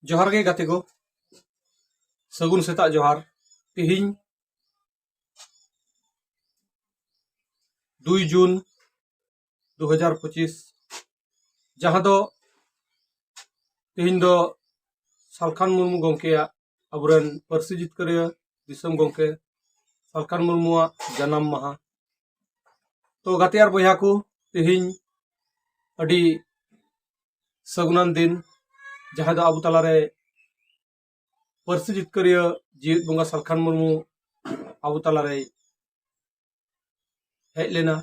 ᱡᱚᱦᱟᱨ ᱜᱮ ᱜᱟᱛᱮ ᱠᱚ ᱥᱟᱹᱜᱩᱱ ᱥᱮᱛᱟᱜ ᱡᱚᱦᱟᱨ ᱛᱮᱦᱮᱧ ᱫᱩᱭ ᱡᱩᱱ ᱫᱩ ᱦᱟᱡᱟᱨ ᱯᱚᱸᱪᱤᱥ ᱡᱟᱦᱟᱸ ᱫᱚ ᱛᱮᱦᱮᱧ ᱫᱚ ᱥᱟᱞᱠᱷᱟᱱ ᱢᱩᱨᱢᱩ ᱜᱚᱢᱠᱮᱭᱟᱜ ᱟᱵᱚᱨᱮᱱ ᱯᱟᱹᱨᱥᱤ ᱡᱤᱛᱠᱟᱹᱨᱤᱭᱟᱹ ᱫᱤᱥᱚᱢ ᱜᱚᱢᱠᱮ ᱥᱟᱞᱠᱷᱟᱱ ᱢᱩᱨᱢᱩᱣᱟᱜ ᱡᱟᱱᱟᱢ ᱢᱟᱦᱟ ᱛᱚ ᱜᱟᱛᱮ ᱟᱨ ᱵᱚᱭᱦᱟ ᱠᱚ ᱛᱮᱦᱮᱧ ᱟᱹᱰᱤ ᱥᱟᱹᱜᱩᱱᱟᱱ ᱫᱤᱱ ᱡᱟᱦᱟᱸ ᱫᱚ ᱟᱵᱚ ᱛᱟᱞᱟᱨᱮ ᱯᱟᱹᱨᱥᱤ ᱡᱤᱛᱠᱟᱹᱨᱤᱭᱟᱹ ᱡᱤᱣᱮᱫ ᱵᱚᱸᱜᱟ ᱥᱟᱞᱠᱷᱟᱱ ᱢᱩᱨᱢᱩ ᱟᱵᱚ ᱛᱟᱞᱟᱨᱮ ᱦᱮᱡ ᱞᱮᱱᱟ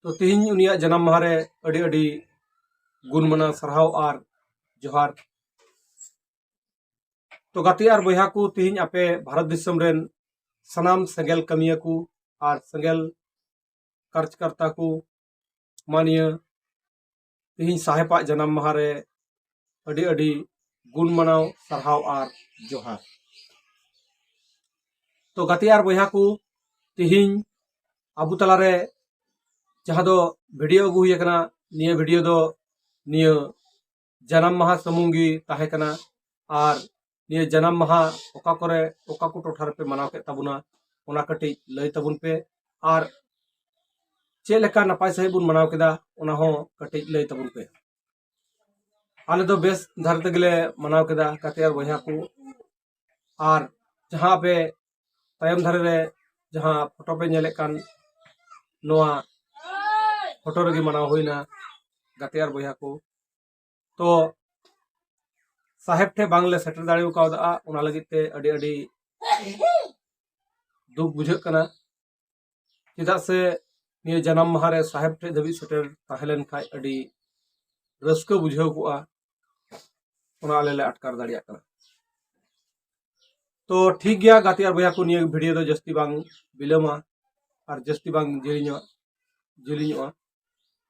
ᱛᱚ ᱛᱮᱦᱮᱧ ᱩᱱᱤᱭᱟᱜ ᱡᱟᱱᱟᱢ ᱢᱟᱦᱟᱨᱮ ᱟᱹᱰᱤ ᱟᱹᱰᱤ ᱜᱩᱱ ᱢᱟᱱᱟᱣ ᱥᱟᱨᱦᱟᱣ ᱟᱨ ᱡᱚᱦᱟᱨ ᱛᱚ ᱜᱟᱛᱮ ᱟᱨ ᱵᱚᱭᱦᱟ ᱠᱚ ᱛᱮᱦᱮᱧ ᱟᱯᱮ ᱵᱷᱟᱨᱚᱛ ᱫᱤᱥᱚᱢ ᱨᱮᱱ ᱥᱟᱱᱟᱢ ᱥᱮᱸᱜᱮᱞ ᱠᱟᱹᱢᱤᱭᱟᱹ ᱠᱚ ᱟᱨ ᱥᱮᱸᱜᱮᱞ ᱠᱟᱨᱡᱽᱠᱟᱨᱛᱟ ᱠᱚ ᱢᱟᱱᱤᱭᱟᱹ ᱛᱮᱦᱮᱧ ᱥᱟᱦᱮᱵᱟᱜ ᱡᱟᱱᱟᱢ ᱢᱟᱦᱟ ᱨᱮ ᱟᱹᱰᱤ ᱟᱹᱰᱤ ᱜᱩᱱ ᱢᱟᱱᱟᱣ ᱥᱟᱨᱦᱟᱣ ᱟᱨ ᱡᱚᱦᱟᱨ ᱛᱚ ᱜᱟᱛᱮ ᱟᱨ ᱵᱚᱭᱦᱟ ᱠᱚ ᱛᱮᱦᱮᱧ ᱟᱵᱚ ᱛᱟᱞᱟᱨᱮ ᱡᱟᱦᱟᱸ ᱫᱚ ᱵᱷᱤᱰᱤᱭᱳ ᱟᱹᱜᱩ ᱦᱩᱭ ᱟᱠᱟᱱᱟ ᱱᱤᱭᱟᱹ ᱵᱷᱤᱰᱤᱭᱳ ᱫᱚ ᱱᱤᱭᱟᱹ ᱡᱟᱱᱟᱢ ᱢᱟᱦᱟ ᱥᱩᱢᱩᱝ ᱜᱮ ᱛᱟᱦᱮᱸ ᱠᱟᱱᱟ ᱟᱨ ᱱᱤᱭᱟᱹ ᱡᱟᱱᱟᱢ ᱢᱟᱦᱟ ᱚᱠᱟ ᱠᱚᱨᱮ ᱚᱠᱟ ᱠᱚ ᱴᱚᱴᱷᱟ ᱨᱮᱯᱮ ᱢᱟᱱᱟᱣ ᱠᱮᱫ ᱛᱟᱵᱚᱱᱟ ᱚᱱᱟ ᱠᱟᱹᱴᱤᱡ ᱞᱟᱹᱭ ᱛᱟᱵᱚᱱ ᱯᱮ ᱟᱨ ᱪᱮᱫ ᱞᱮᱠᱟ ᱱᱟᱯᱟᱭ ᱥᱟᱺᱦᱤᱡ ᱵᱚᱱ ᱢᱟᱱᱟᱣ ᱠᱮᱫᱟ ᱚᱱᱟ ᱦᱚᱸ ᱠᱟᱹᱴᱤᱡ ᱞᱟᱹᱭ ᱛᱟᱵᱚᱱ ᱯᱮ ᱟᱞᱮ ᱫᱚ ᱵᱮᱥ ᱫᱷᱟᱨᱟ ᱛᱮᱜᱮᱞᱮ ᱢᱟᱱᱟᱣ ᱠᱮᱫᱟ ᱜᱟᱛᱮ ᱟᱨ ᱵᱚᱭᱦᱟ ᱠᱚ ᱟᱨ ᱡᱟᱦᱟᱸ ᱟᱯᱮ ᱛᱟᱭᱚᱢ ᱫᱷᱟᱨᱮ ᱨᱮ ᱡᱟᱦᱟᱸ ᱯᱷᱳᱴᱳ ᱯᱮ ᱧᱮᱞᱮᱫ ᱠᱟᱱ ᱱᱚᱣᱟ ᱯᱷᱳᱴᱳ ᱨᱮᱜᱮ ᱢᱟᱱᱟᱣ ᱦᱩᱭᱱᱟ ᱜᱟᱛᱮ ᱟᱨ ᱵᱚᱭᱦᱟ ᱠᱚ ᱛᱚ ᱥᱟᱦᱮᱵ ᱴᱷᱮᱱ ᱵᱟᱝᱞᱮ ᱥᱮᱴᱮᱨ ᱫᱟᱲᱮ ᱠᱟᱣᱫᱟ ᱚᱱᱟ ᱞᱟᱹᱜᱤᱫ ᱛᱮ ᱟᱹᱰᱤ ᱟᱹᱰᱤ ᱫᱩᱠ ᱵᱩᱡᱷᱟᱹᱜ ᱠᱟᱱᱟ ᱪᱮᱫᱟᱜ ᱥᱮ ᱱᱤᱭᱟᱹ ᱡᱟᱱᱟᱢ ᱢᱟᱦᱟ ᱨᱮ ᱥᱟᱦᱮᱵᱽ ᱴᱷᱮᱡ ᱫᱷᱟᱹᱵᱤᱡ ᱥᱮᱴᱮᱨ ᱛᱟᱦᱮᱸ ᱞᱮᱱ ᱠᱷᱟᱡ ᱟᱹᱰᱤ ᱨᱟᱹᱥᱠᱟᱹ ᱵᱩᱡᱷᱟᱹᱣ ᱠᱚᱜᱼᱟ ᱚᱱᱟ ᱟᱞᱮ ᱞᱮ ᱟᱴᱠᱟᱨ ᱫᱟᱲᱮᱭᱟᱜ ᱠᱟᱱᱟ ᱛᱚ ᱴᱷᱤᱠ ᱜᱮᱭᱟ ᱜᱟᱛᱮ ᱟᱨ ᱵᱚᱭᱦᱟ ᱠᱚ ᱱᱤᱭᱟᱹ ᱵᱷᱤᱰᱤᱭᱳ ᱫᱚ ᱡᱟᱹᱥᱛᱤ ᱵᱟᱝ ᱵᱤᱞᱚᱢᱟ ᱟᱨ ᱡᱟᱹᱥᱛᱤ ᱵᱟᱝ ᱡᱤᱞᱤᱧᱚᱜᱼᱟ ᱡᱤᱞᱤᱧᱚᱜᱼᱟ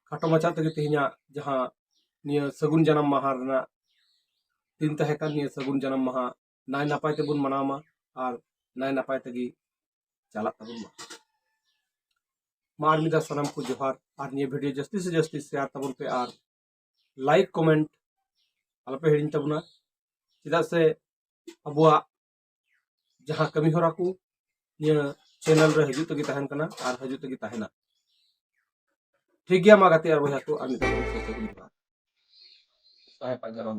ᱠᱷᱟᱴᱚ ᱢᱟᱪᱷᱟ ᱛᱮᱜᱮ ᱛᱮᱦᱮᱧᱟᱜ ᱡᱟᱦᱟᱸ ᱱᱤᱭᱟᱹ ᱥᱟᱹᱜᱩᱱ ᱡᱟᱱᱟᱢ ᱢᱟᱦᱟ ᱨᱮᱱᱟᱜ ᱫᱤᱱ ᱛᱟᱦᱮᱸ ᱠᱟᱱ ᱱᱤᱭᱟᱹ ᱥᱟᱹᱜᱩᱱ ᱡᱟᱱᱟᱢ ᱢᱟᱦᱟ ᱱᱟᱭ ᱱᱟᱯᱟᱭ ᱛᱮᱵᱚᱱ ᱢᱟᱱᱟᱣ ᱢᱟ ᱟᱨ ᱱᱟᱭ ᱱᱟᱯᱟᱭ ᱛᱮᱜᱮ ᱪᱟᱞᱟᱜ ᱛᱟᱵᱚᱱ ᱢᱟ ᱢᱟ ᱟᱨ ᱢᱤᱫ ᱫᱷᱟᱣ ᱥᱟᱱᱟᱢ ᱠᱚ ᱡᱚᱦᱟᱨ ᱟᱨ ᱱᱤᱭᱟᱹ ᱵᱷᱤᱰᱤᱭᱳ ᱡᱟᱹᱥᱛᱤ ᱥᱮ ᱡᱟᱹᱥᱛᱤ ᱥᱮᱭᱟᱨ ᱛᱟᱵᱚᱱ ᱯᱮ ᱟᱨ ᱞᱟᱭᱤᱠ ᱠᱚᱢᱮᱱᱴ ᱟᱞᱚᱯᱮ ᱦᱤᱲᱤᱧ ᱛᱟᱵᱚᱱᱟ ᱪᱮᱫᱟᱜ ᱥᱮ ᱟᱵᱚᱣᱟᱜ ᱡᱟᱦᱟᱸ ᱠᱟᱹᱢᱤ ᱦᱚᱨᱟ ᱠᱚ ᱱᱤᱭᱟᱹ ᱪᱮᱱᱮᱞ ᱨᱮ ᱦᱤᱡᱩᱜ ᱛᱮᱜᱮ ᱛᱟᱦᱮᱱ ᱠᱟᱱᱟ ᱟᱨ ᱦᱤᱡᱩᱜ ᱛᱮᱜᱮ ᱛᱟᱦᱮᱱᱟ ᱴᱷᱤᱠ ᱜᱮᱭᱟ ᱢᱟ ᱜᱟᱛᱮ ᱟᱨ ᱵᱚᱭᱦᱟ ᱠᱚ ᱟᱨ ᱢᱤᱫ ᱫᱷᱟᱣ ᱥᱟᱦᱮᱵ ᱟᱡᱟᱨᱚᱱ